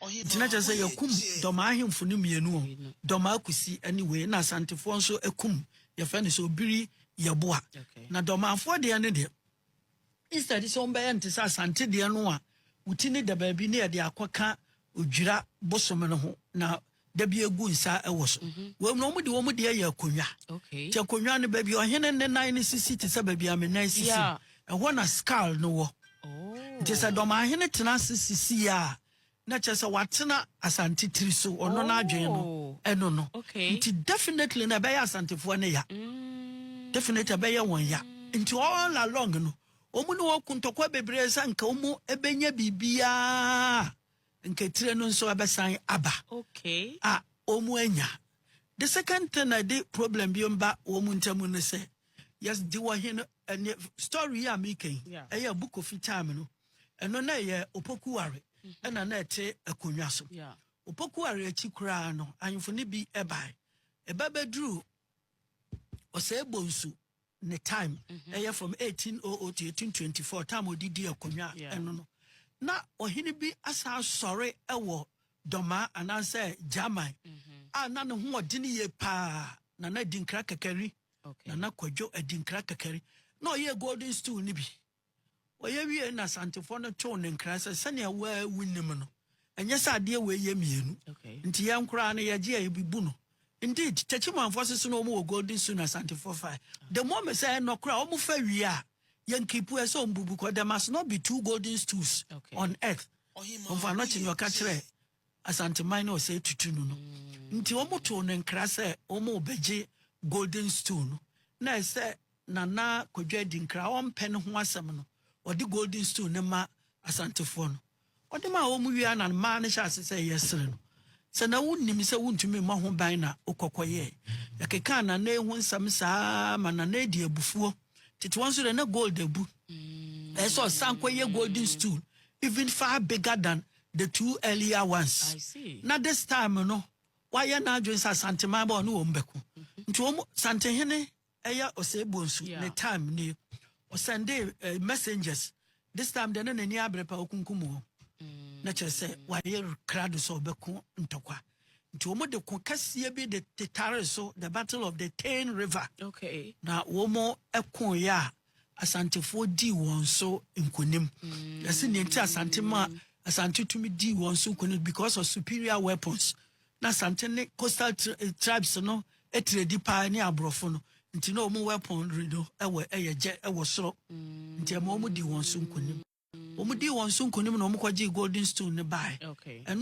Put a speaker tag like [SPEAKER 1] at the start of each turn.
[SPEAKER 1] Nti na kyerɛ sɛ yɛkum Dɔmaa ahemfo no mmienu o, Dɔmaa Kusi ne wei, ɛna Asantefoɔ nso kum yɛfrɛ no sɛ Obiri Yeboah. Na Dɔmaafoɔ deɛ no deɛ, instead sɛ wɔbɛyɛ no te sɛ Asante deɛ no a, wo ti no da baabi na yɛde akɔka Odwira bosome no ho, na da bi egu nsa wɔ so mhm. wɔn na wɔn de wɔn deɛ yɛ akonnwa te akonnwa no baabi ɔhene ne nan no sisi te sɛ baabi a me nan sisi ɛhɔ na skull no wɔ oh. nti sɛ dɔmahene tena ase sisi yɛ a na kyerɛ sɛ watena asante tiri so ɔno oh. n'adwene no ɛno no nti definitely na ɛbɛyɛ asantefoɔ no ya mm. definitely ɛbɛyɛ wɔn ya nti all along no wɔn ne wɔn ko ntɔkwa bebree sɛ nka wɔn bɛnya biribiara. Nkakyire no nso abɛsan aba a wɔn anya. The second thing na ɛde problem bi mba wɔn ntamu ne sɛ, yes, di wɔ he no, ɛne story yi a meka yi, ɛyɛ book of time no, ɛno na ɛyɛ opokuware ɛna na ɛte akonnwa so. Opokuware akyi koraa no, ahemfo no bi ɛbae. Ɛba bɛduru ɔsɛe bonsu. ne time ɛyɛ from eighteen oh oh to eighteen twenty four time a ɔde di akonnwa ɛno no na ɔhene bi asan sɔre ɛwɔ dɔmaa anaasɛ gyaman mm-hmm. a na ne ho ɔdene yie paa nana adinkra kakari nana kwadwo adinkra kakari na ɔyɛ golden stool no bi Wɔyɛ wiei na Asantefoɔ no too ne nkra sɛ, Sɛnea wo ara wonim no, ɛnyɛ sɛ adeɛ wei yɛ mmienu. Nti yɛn koraa no yɛgye a yɛbebu no. Indeed, Techimanfoɔ nso so na wɔn wɔ Golden Sioux na Asantefoɔ fae. The moment sɛ ɛnɔ koraa wɔn fa wie a, yɛn kipu ɛsɛ wɔn bubu kɔ. There must not be two Golden Stools on earth. Ɔmfa no kye nea ɔka kyerɛ Asanteman no ɔsɛe tutu no no nti wɔtoo no nkra sɛ wɔrebɛgye Golden Stool no na ɛyɛ sɛ Nana Kwadwo Adinkra a ɔmpɛ ne ho asɛm no ɔde Golden Stool no ma Asantefoɔ no. Ɔde maa wɔn wie ara na mmaa no hyɛɛ ase sɛ yɛresere no sɛ na wonnim sɛ wontumi mmɔ ho ban na wokɔ kɔyɛɛ. Yɛkekaa Nana ho nsɛm saa ara ma Nana dii abufuo. Tete hɔ nso deɛ na gold abu. Ɛyɛ sɛ ɔsan kɔyɛ Golden Stool even far bigger than The two earlier ones na this time no wayɛ n'adwene sɛ Asanteman ba ɔne wɔn bɛko nti wɔn Santenhene ɛyɛ Osei Bonsu ne time nie ɔsɛndee eh, messengers this time deɛ na n'ani abere pa ɔkunkum wɔn na kyerɛ sɛ wayɛ krado sɛ ɔbɛko ntɔkwa nti wɔn de ko kɛseɛ bi de tetare so the battle of the Tain River okay. na wɔn ɛko yɛ a Asantefoɔ dii wɔn so nkonim. Yɛsi nea nti Asante ma Asante tumi dii wɔn so nkonim because of superior weapons. Na Asante ne coastal eh, tribes no etiredi paa ne aborɔfo no. Nti na wɔn weaponry no ɛwɔ ɛyɛ gyɛ ɛwɔ soro. Nti ɛma wɔn dii wɔn so nkonim. Wɔn dii wɔn so nkonim na wɔn kɔgye golden stone ne bae. Ɛno